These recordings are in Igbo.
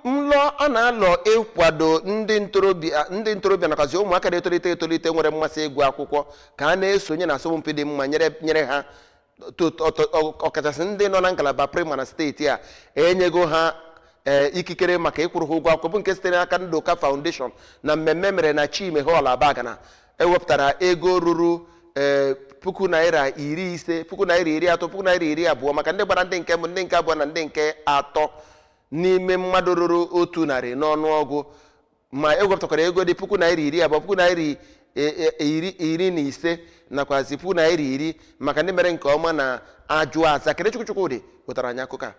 nlọ a na-alọ ịkwado ndị ntorobịa ndị ntorobịa nakwazi ụmụaka na-etolite etolite nwere mmasị ịgụ akwụkwọ ka a na-esonye na asọmpi dị mma nyere nyere ha to- to- to- ọ- ọkachasị ndị nọ na ngalaba praịmarị na steeti a enyego ha ee, ikikere maka ịkwụrụ ha ụgwọ akwụkwọ bụ nke sitere n'aka Ndụka Foundation na mmemme mere na Chime Hall Abagana ewepụtara ego ruru ee puku naira iri ise puku naira iri atọ puku naira iri abụọ maka ndị gbara ndị nke mbụ ndị nke abụọ na ndị nke atọ n'ime mmadụ ruru otu narị n'ọnụọgụ ma ewepụtakwara ego dị puku naira iri abụọ puku naira i- e- e- iri iri na ise nakwazi puku naira iri maka ndị mere nke ọma na ajụ aza Kenechukwu Chukwudị wetara anyị akụkọ a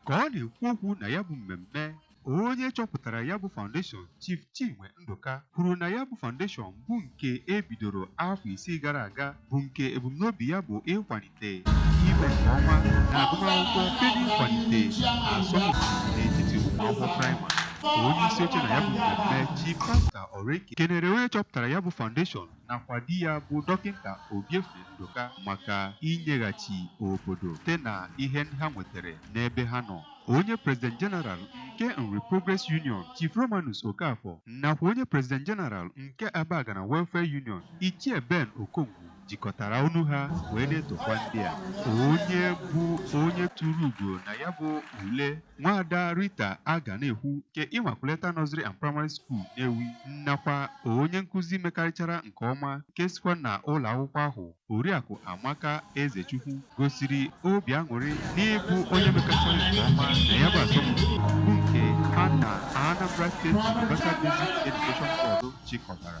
ka ọ na-ekwu okwu na ya bụ mmemme onye chọpụtara ya bụ foundation Chief Chinwe Ndụka kwuru na ya bụ foundation bụ nke e bidoro afọ isii gara aga bụ nke ebumnobi ya bụ ịkwalite ime nke ọma na agụmakwụkwọ site n'ịkwalite asọmpi n'etiti ụmụ akwụkwọ praịmarị onye isi oche na ya bụ mmemme Chief Pastor Oreke kenere onye chọpụtara ya bụ foundation nakwa di ya bụ Dọkịnta Obiefe Ndụka maka inyeghachi obodo site na ihe ndị ha nwetere n'ebe ha nọ. Onye President General nke Nri Progress Union, Chief Romanus Okafor nakwa onye President General nke Abagana Welfare Union, Ichie Ben Okongwu jikọtara ọnụ ha wee na-etokwa ndị a. Onye bụ onye tụrụ ugo na ya bụ ule Nwaada Rita Aganaekwu nke Immaculata Nursery and Primary School Nnewi nakwa onye nkụzi mekarịchara nke ọma nke sikwa na ụlọ akwụkwọ ahụ Oriakụ Amaka Ezechukwu gosiri obi aṅụrị n'ịbụ onye mekarịchara nke ọma na ya bụ asọmpi bụ nke ha na Anambra State Universal Basic Education Board chịkọtara.